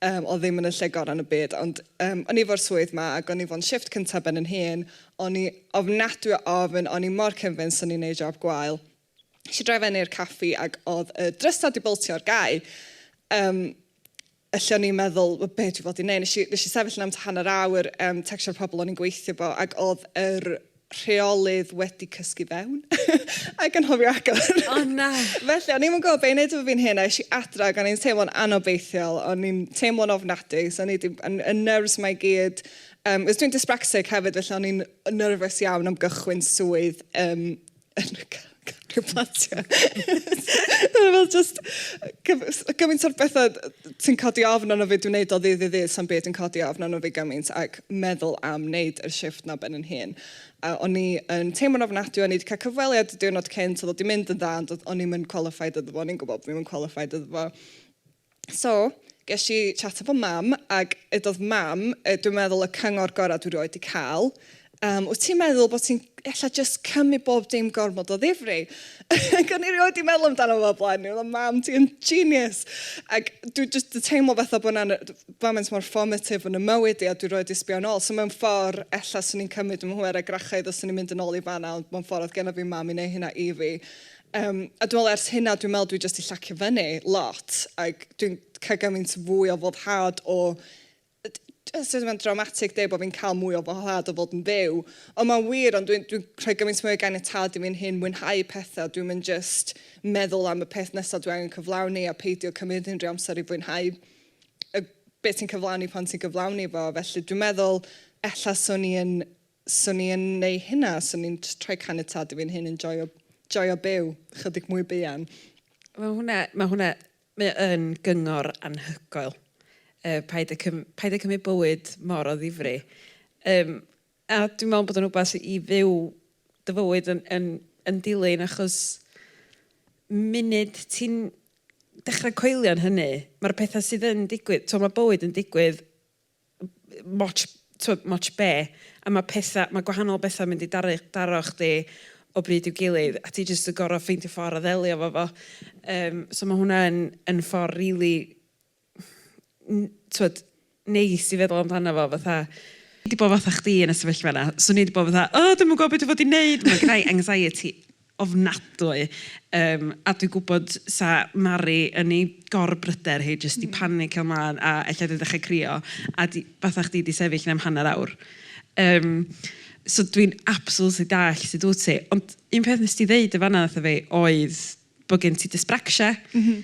Yym, oedd ddim yn y lle gorau yn y byd, ond um, o'n i fo'r swydd ma, ac o'n i fo'n shift cyntaf ben yn hun, o'n i ofnadwy o ofn, o'n i mor convinced o'n i'n neud job gwael. Eisiau droi fyny i'r caffi ac oedd y drysau di boltio ar gau. Um, lle o'n i'n meddwl, well, be dwi fod i'n neud? Nes i, nes i sefyll yn am hanner awr, um, textio'r pobl o'n i'n gweithio fo, ac oedd yr rheolydd wedi cysgu fewn ac yn hofio agor. O na! Felly, o'n i'm yn gwybod beth i wneud efo fi'n hun a es i adra ac o'n i'n teimlo'n anobeithiol, o'n i'n teimlo'n ofnadwy, so o'n i 'di, yn, yn nerves mae gyd. Um, os dwi'n dyspraxic hefyd, felly o'n i'n nerfus iawn am gychwyn swydd um, yn y Cario platiau. Dyna fel just gymaint o'r bethau ti'n codi ofn arno fi, dwi'n neud o ddydd i ddydd, sa'n byd yn codi ofn arno fi gymaint ac meddwl am wneud y shift na ben yn hun. A o'n i yn teimlo'n ofnadwy, o'n i wedi cael cyfweliad y diwrnod cynt, oedd o wedi mynd yn dda, ond o'n i'm yn qualified iddo fo, o'n i'n gwybod bod fi'n qualified iddo fo. So, ges i chat efo mam, ac ydodd mam, yy dwi'n meddwl y cyngor gorau dwi rioed di cael. Yym, wyt ti'n meddwl bod ti'n ella jyst cymryd bob dim gormod o ddifri? ac o'n i rioed di meddwl amdano fo o'r blaen, o'n i'n meddwl mam ti yn genius! ac dwi jyst di teimlo fatha bod yna foment mor formative yn 'y mywyd i a dwi rioed di sbio nôl, so mewn ffordd ella swn i'n cymryd fy mhŵer a grachau ddo swn i'n mynd yn ôl i fan'na, ond mewn ffordd oedd genna fi mam i neu' hynna i fi. Yym a dwi me'wl ers hynna dwi'n me'wl dwi jyst 'di llacio fyny lot ag dwi'n cael gymaint fwy o foddhad o d- d- os yw e'n dramatic deud bo' fi'n cael mwy o foddhad o fod yn fyw ond ma'n wir ond dwi'n dwi'n rhoi gymaint mwy o ganiatâd i fi'n hun mwynhau petha dwi'm yn jyst meddwl am y peth nesa dwi angen cyflawni a peidio cymryd unrhyw amser i fwynhau y be' ti'n cyflawni pan ti'n cyflawni fo felly dwi'n meddwl ella swn i yn 'swn i yn neu hynna, 'swn i'n jyst rhoi caniatad i fi'n hun yn joio, joio byw, chydig mwy buan. Ma' hwnna, ma' hwnna, mae o yn gyngor anhygoel. Yy paid â cym- paid â cymryd bywyd mor o ddifri. Yym a dwi'n meddwl bod o'n wbath i fyw dy fywyd yn yn yn dilyn achos munud ti'n dechrau coelio'n hynny, ma'r petha sydd yn digwydd, t'mo' ma' bywyd yn digwydd moch, tibod, moch be? A mae pethau, mae gwahanol bethau'n mynd i daru, daro chdi o bryd i'w gilydd, a ti jyst yn gorfod ffeindio ffordd o ddelio efo fo. Yym, so mae hwnna yn yn ffordd rili n- tibod, neis i feddwl amdano fo, fatha, dwi 'di bod fatha chdi yn y sefyllfa yna. 'Swn i 'di bod fatha, O dwi'm yn gwybod be dwi fod i wneud, mae genna i anxiety ofnadwy yym a dwi'n gwybod 'sa Mari yn ei gor-bryder hi jyst 'di panicio mlaen a ella 'di dechrau crio a 'di... fatha chdi 'di sefyll 'na am hanner awr. Yym so dwi'n absolutely dallt sut wyt ti. Ond un peth wnest ti ddeud yn fan'na wrtha fi oedd bod gen ti dysbracsia. M-hm.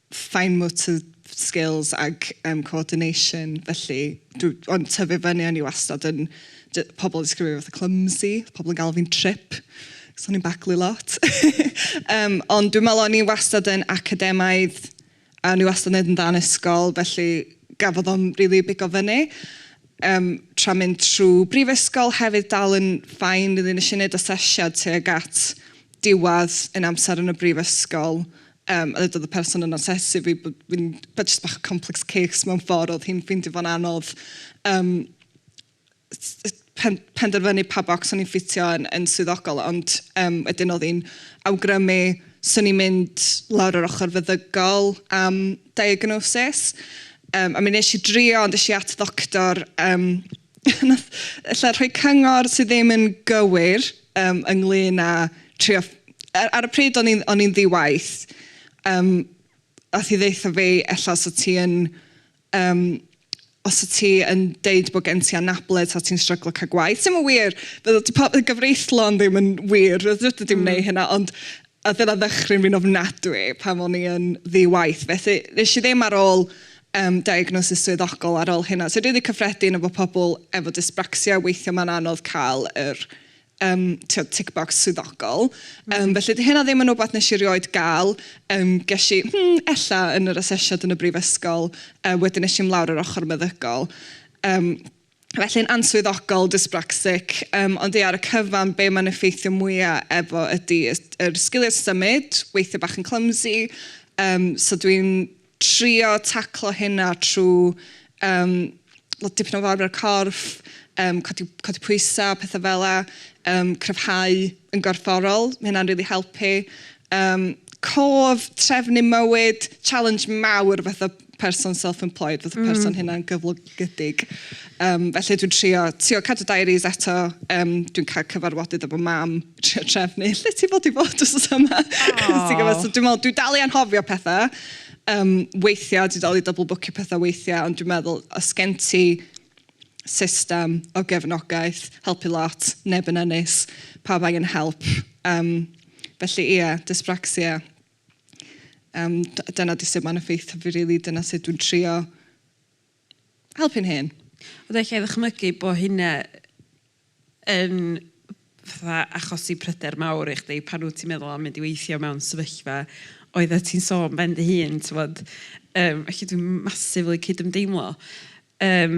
fine motor skills ac yym coordination felly dw- ond tyfu fyny o'n i wastad yn j- pobl yn disgrifio fi fatha clumsy, oedd pobl yn galw fi'n trip achos o'n i'n baglu lot yym ond dwi'n meddwl o'n i wastad yn academaidd a o'n i wastad yn wneud yn dda yn ysgol felly gafodd o'm rili bigo fyny yym tra mynd trwy brifysgol hefyd dal yn fine, wedyn wnes i wneud asesiad tuag at diwedd ein amser yn y brifysgol Yym, a ddedodd y person yn asesu fi bod fi'n... ma' jyst bach o complex case mewn ffordd, oedd hi'n ffeindio fo'n anodd yym s- pen- penderfynu pa bocs o'n i'n ffitio yn yn swyddogol, ond yym wedyn oedd hi'n awgrymu 'swn i'n mynd lawr yr ochr feddygol am diagnosis. Yym, a mi wnes i drio, ond es i at ddoctor yym... na ella rhoi cyngor sydd ddim yn gywir yym ynglyn â trio... a- ar y pryd o'n i'n o'n i'n ddi-waith yym aeth hi ddeutha fi ella os o't ti yn yym os o't ti yn deud bod gen ti anabledd ta ti'n stryglo cael gwaith. Sy'm yn wir! Fel 'di po- gyfreithlon ddim yn wir. Fedri di'm wneud hynna ond... Oedd hynna'n ddychryn fi'n ofnadwy pan o'n i yn ddi-waith. Felly, nes i ddim ar ôl um, diagnosis swyddogol ar ôl hynna. So dwi wedi cyffredin efo pobl efo dysbracsia, weithio mae'n anodd cael yr um, tick tickbox swyddogol. Mm. Um, felly di hynna ddim yn rhywbeth nes i rioed gael. Um, ges i, hmm, ella yn yr asesiad yn y brifysgol, uh, wedyn nes i ymlawr yr ochr meddygol. Um, felly'n answyddogol, dysbracsic, yym ond ie ar y cyfan be mae'n effeithio mwya' efo ydi y yr sgiliau symud, weithio bach yn clumsy yym so dwi'n trio taclo hynna trwy yym wel dipyn o fawr o'r corff, yym codi codi pwysau, petha fela, yym cryfhau yn gorfforol, ma' hynna'n rili helpu. Yym cof, trefnu mywyd, challenge mawr fatha person self-employed, fath o person mm. hynna'n gyflogydig. Um, felly dwi'n trio, trio cadw diaries eto, um, dwi'n cael cyfarfodydd efo mam, trio trefnu, lle ti fod i fod os oes yma? so dwi'n meddwl, dwi'n dal i anhofio pethau, um, weithiau, dwi'n dal i double bwcio pethau weithiau, ond dwi'n meddwl, os gen ti system o gefnogaeth, helpu lot, neb yn ennis, pa bai yn help. Um, felly, ie, yeah, dyspraxia, Yym, dyna 'di sut mae'n effeithio fi rili, dyna sut dwi'n trio helpu'n hun. Ond ella i ddychmygu bod hynna yn fatha achosi pryder mawr i chdi pan wyt ti'n meddwl am mynd i weithio mewn sefyllfa oeddet ti'n sôn ben dy hun, ti'n gwybod. Yym, felly dwi'n massively cydymdeimlo. Yym.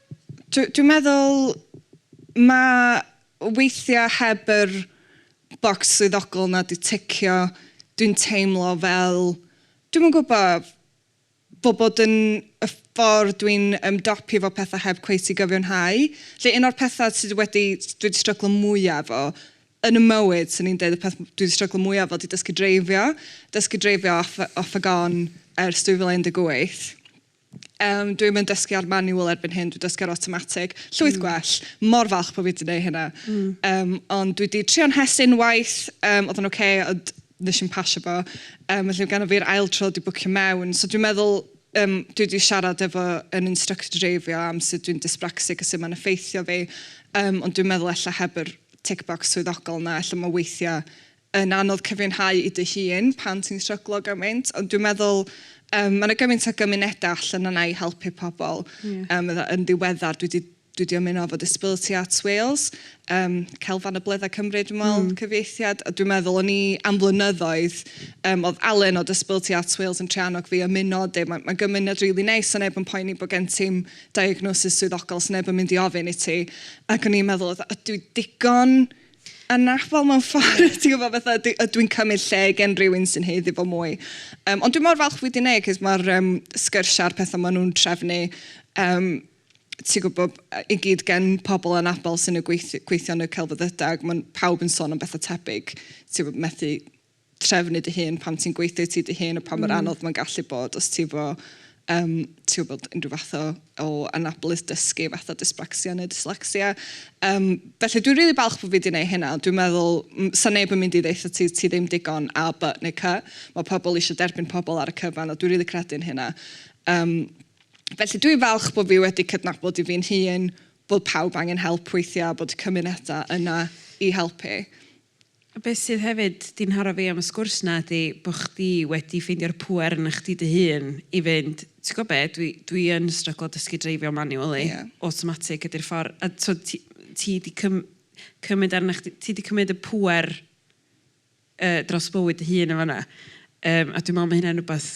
Dw- dwi'n meddwl mae weithiau heb yr bocs swyddogol 'na 'di ticio, dwi'n teimlo fel, dwi'm yn gwybod, fel bod yn y ffordd dwi'n ymdopi efo pethau heb cweit i gyfiawnhau. Felly un o'r pethau sydd wedi... dwi 'di stryglo mwya' efo yn 'y mywyd, 'swn i'n deud, y peth dwi 'di stryglo mwya' efo 'di dysgu dreifio. Dysgu dreifio off off a gone ers 2018. Yym, dwi'm yn dysgu ar manual erbyn hyn, dwi'n dysgu ar automatic. Llwyth mm. gwell. Mor falch bod fi wedi gwneud hynna. Mm. Um, ond dwi wedi trio'n hes unwaith, um, oedd yn oce, okay, ond nes i'n pasio fo. Um, felly gan o fi'r ail tro wedi bwcio mewn. So dwi'n meddwl, um, dwi wedi siarad efo yn instructor dreifio am sut dwi'n dyspraxic a sut mae'n effeithio fi. Um, ond dwi'n meddwl efallai heb yr tick box swyddogol yna, efallai mae weithiau yn anodd cyfiawnhau i dy hun pan ti'n stryglo gymaint, ond dwi'n meddwl yym ma' 'na gymaint o gymunedau allan yna i helpu pobl. Ie. Yym fydda- yn ddiweddar dwi 'di dwi 'di ymuno efo Disability Arts Wales, yym Celf Anableddau Cymru dwi'n meddwl... Mm. ...cyfieithiad, a dwi'n meddwl o'n i am flynyddoedd yym oedd Alun o Disability Arts Wales yn trio annog fi ymuno a deud ma' ma' gymuned rili neis a neb yn poeni bod gen ti'm diagnosis swyddogol, 'sneb yn mynd i ofyn i ti, ac o'n i'n meddwl fatha 'ydw i digon Anach, fel mewn ffordd, ti'n gwybod, fatha, dwi, ydw i'n cymryd lle gen rhywun sy'n heiddi fo mwy. Um, ond dwi'n mor falch fwy di neu, cys mae'r um, sgyrsiau a'r pethau maen nhw'n trefnu, um, ti'n gwybod, i gyd gen pobl yn abel sy'n y gweithio, gweithio yn y celfyddydag, mae pawb yn sôn am bethau tebyg, ti'n gwybod, methu trefnu dy hun pan ti'n gweithio i ti dy hun a pa mor anodd mae'n gallu bod os ti efo yym ti'n gwybod unrhyw fath o o anabledd dysgu fatha dysbracsia neu dyslacsia. Yym felly dwi'n rili falch bod fi 'di wneud hynna ond dwi'n meddwl m- 'sa neb yn mynd i ddeutha ti ti ddim digon a, by neu cy. Mae pobl eisiau derbyn pobl ar y cyfan a dwi'n rili credu yn hynna. Yym felly dwi'n falch bod fi wedi cydnabod i fi'n hun bod pawb angen help weithiau a bod y cymunedau yna i helpu. Beth sydd hefyd 'di ngharo fi am y sgwrs 'na ydi bo' chdi wedi ffeindio'r pŵer yna chdi dy hun i fynd, ti gwbo be', dwi dwi yn stryglo dysgu dreifio manually... Ie. ...automatic ydi'r ffor, a t'od ti ti 'di cym- cymyd arna chdi, ti 'di cymyd y pŵer yy dros bywyd dy hun yn fan 'na. Yym a dwi me'wl ma' hynna'n rwbath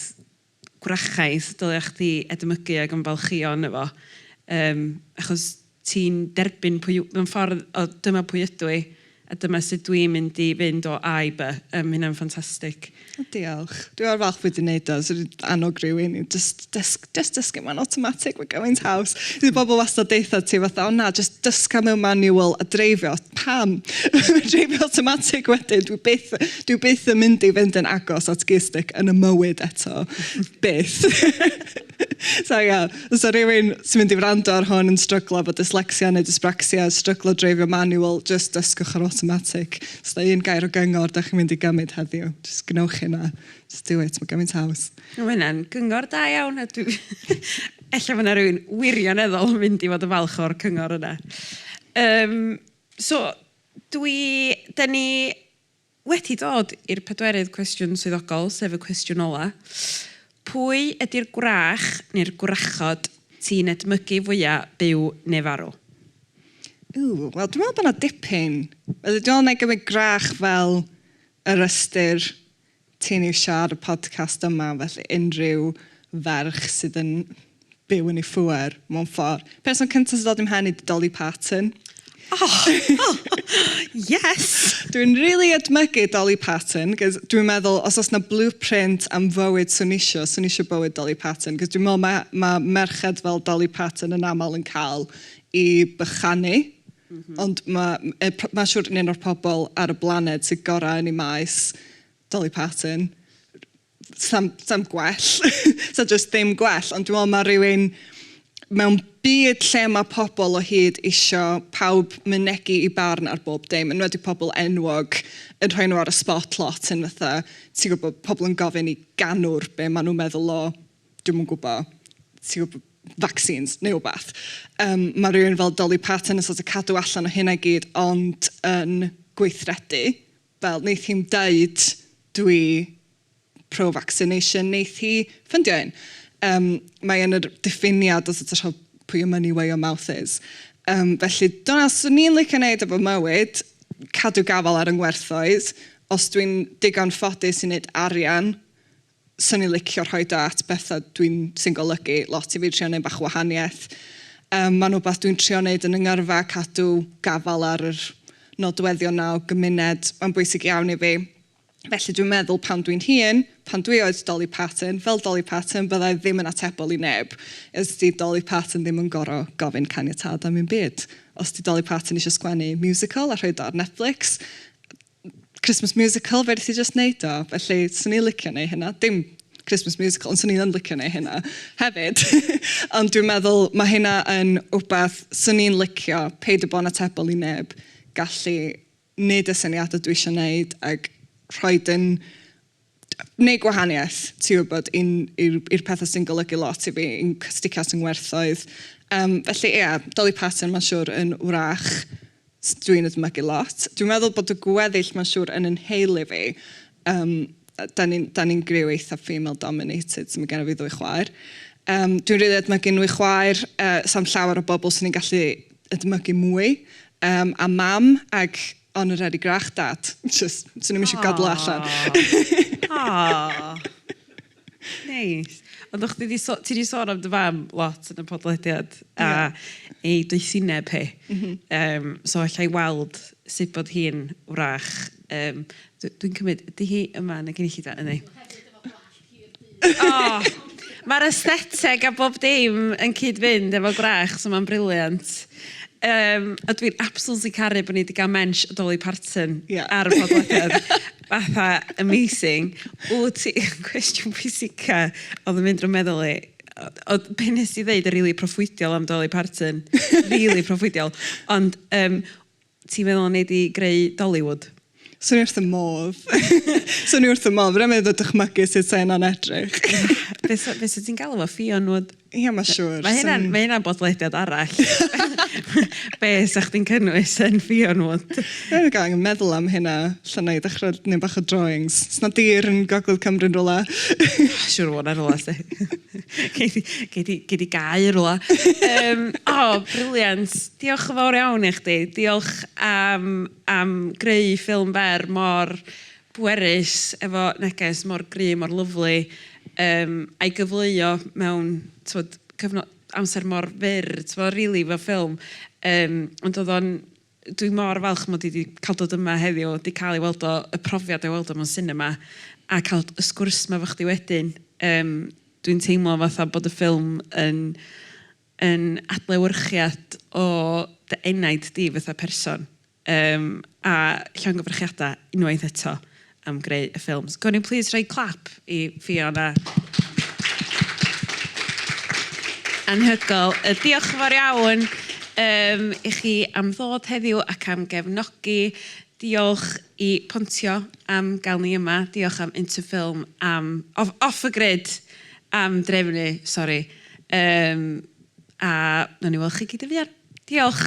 gwrachaidd dylia chdi edmygu ag ymfalchïo ynddo fo yym achos ti'n derbyn pwy yw... mewn ffordd o dyma pwy ydw i a dyma sut dwi'n mynd i fynd o A i By. Yym ma' hynna'n ffantastig. O diolch. Dwi mor falch bod ti'n wneud o. 'Swn i'n annog rhywun i jyst dysg- jyst dysgu mewn awtomatig, mae'n gymaint haws. Bydd pobl wastad deutha ti fatha "o na, jyst dysga mewn manual a dreifio". Pam? Mae dreifio awtomatig wedyn, dwi byth... Dwi byth yn mynd i fynd yn agos at gearstick yn y mywyd eto. byth. so ia, os o rywun sy'n mynd i wrando ar hwn yn stryglo bod dyslexia neu dyspraxia, stryglo dreifio manual, just dysgwch yr automatic. Os da un gair o gyngor da chi'n mynd i gymryd heddiw, just gwnewch hynna. Just do it, mae gymaint haws. Mae hynna'n gyngor da iawn. Ella mae yna rhywun wirioneddol yn mynd i fod yn falch o'r cyngor yna. Um, so, dwi, da ni Wedi dod i'r pedwerydd cwestiwn swyddogol, sef y cwestiwn ola', pwy ydi'r gwrach neu'r gwrachod ti'n edmygu fwya', byw neu farw? Ww, wel dwi'n meddwl bod 'na dipyn. Ydy o'n, wna i gymryd gwrach fel y rhestr Ti'n iwsio ar y podcast yma felly unrhyw ferch sydd yn byw yn ei phŵer mewn ffordd. Person cynta sy'n dod i'm mhen i ydi Dolly Parton. Oh! Yes! Dwi'n rili edmygu Dolly Parton, cos dwi'n meddwl os oes 'na blueprint am fywyd swn isio, swn isio bywyd Dolly Parton, cos dwi'n meddwl mae mae merched fel Dolly Parton yn aml yn cael i bychanu. Ond mae yy p- mae'n siŵr yn un o'r pobl ar y blaned sydd gorau yn ei maes, Dolly Parton. Sam, sam gwell. Sa just ddim gwell. Ond dwi'n meddwl mae rhywun mewn byd lle mae pobl o hyd isio pawb mynegi i barn ar bob dim, yn wedi pobl enwog yn rhoi nhw ar y spot lot yn fatha, ti'n gwybod, pobl yn gofyn i ganwr be maen nhw'n meddwl o dwi'm yn gwbo, ti'n gwbo, vaccines neu wbath. Yym ma' rywun fel Dolly Parton yn sort of cadw allan o hynna i gyd ond yn gweithredu. Fel neith hi'm deud dwi pro-vaccination, neith hi ffundio un. Yym mae yn yr diffiniad o sort of rho- put your money where your mouth is. Yym felly dyna swn i'n licio neud efo mywyd, cadw gafael ar 'y ngwerthoedd. Os dwi'n digon ffodus i neud arian 'swn i'n licio rhoid o at betha dwi'n... sy'n golygu lot i fi, trio neud bach o wahaniaeth. Yym ma'n wbath dwi'n trio neud yn 'y ngyrfa, cadw gafael ar yr nodweddion 'na o gymuned, ma'n bwysig iawn i fi. Felly dwi'n meddwl pan dwi'n hŷn, pan dwi oed Dolly Parton, fel Dolly Parton bydda i ddim yn atebol i neb. Os 'di Dolly Parton ddim yn goro gofyn caniatâd am 'im byd. Os 'di Dolly Parton isio sgwennu musical a rhoid o ar Netflix, Christmas musical fedri di jyst wneud o. Felly, 'swn i'n licio wneud hynna. Dim Christmas musical, ond 'swn i yn licio wneud hynna hefyd. Ond dwi'n meddwl, mae hynna yn wbath 'swn i'n licio, peidio bod yn atebol i neb, gallu wneud y syniadau dwi isio wneud ac rhoid yn wneud gwahaniaeth, ti'n gwybod, i'n... i'r... i'r pethau sy'n golygu lot i fi, i'n cysticast, i'n ngwerthoedd. Yym, felly ia, Dolly Parton mae'n siwr yn wrach s- dwi'n ei ddychmygu lot. Dwi'n meddwl bod y gweddill mae'n siwr yn 'y nheulu fi. Yym, dan ni'n... dan ni'n griw eitha female dominated, so mae genna fi ddwy chwaer. Yym, dwi'n rili edmygu nhw i chwaer. Yy, 'sna'm llawer o bobl 'swn i'n gallu edmygu mwy. Yym, a Mam, ac... O'n nhw'n rhedeg grach dad. Jyst, 'swn i'm eisiau gadael o allan. Aww, aww. Neis. Ond o'ch chdi 'di so- ti 'di sôn am dy fam lot yn y podlediad a... Ie. ...ei doethineb hi. M-hm. Yym, so alla i weld sut bod hi'n wrach. Yym, d- dwi'n cymryd, ydy hi yma yn y gynulleidfa? Yndi. Hefyd efo gwallt. Oh! Mae'r aestheteg a bob dim yn cyd-fynd efo gwrach, so mae'n briliant. Yym, a dwi'n absolutely caru bod ni 'di gael mensh o Dolly Parton... Ie. ...ar y podlediad. Fatha, amazing. Wyt ti... Cwestiwn pwysica oedd yn mynd drw'm meddwl i, oedd be wnest ti ddeud yn rili proffwydiol am Dolly Parton, rili proffwydiol, ond yym, Ti'n meddwl wnei di greu Dollywood? Swn i wrth fy modd. Swn i wrth fy modd. Fedra i'm hyd yn oed dychmygu sut 'sa hynna'n edrych. Be 'sa, be 'sa ti'n galw fo? Ffion-wood? Ia, ma' siŵr. Mae hynna'n, ma' hynna'n bodlediad arall. Be 'sa chdi'n cynnwys yn Ffion-wood? Dwi wedi angen meddwl am hynna. Lle na i ddechrau neud bach o drawings. Sna dir yn gogledd Cymru yn rywle? Siŵr o fod 'na rywle, 'lly. Gei di, gei di, gei di gau rwla. um, o, oh, briliant. Diolch yn fawr iawn i chdi. Diolch am, am greu ffilm fer mor bwerus, efo neges mor gry, mor lyflu, um, a'i gyfleuo mewn twod, cyfnod amser mor fyr, twod, rili, really, fel ffilm. Um, ond oedd o'n Dwi mor falch mod i 'di ca'l dod yma heddiw, 'di ca'l ei weld o, y profiad o ei weld o mewn sinema, a ca'l y sgwrs 'ma efo chdi wedyn. Yym, dwi'n teimlo fatha bod y ffilm yn yn adlewyrchiad o dy enaid di fatha person. Yym, a llongyfarchiada unwaith eto. am greu y ffilms. Gwn i'n plîs rhoi clap i Fiona. Anhygoel. Yy diolch yn fawr iawn yym i chi am ddod heddiw ac am gefnogi. Diolch i Pontio am gael ni yma. Diolch am Interfilm am off off y grid am drefnu sori yym a nawn ni weld chi gyd yn fuan. Diolch.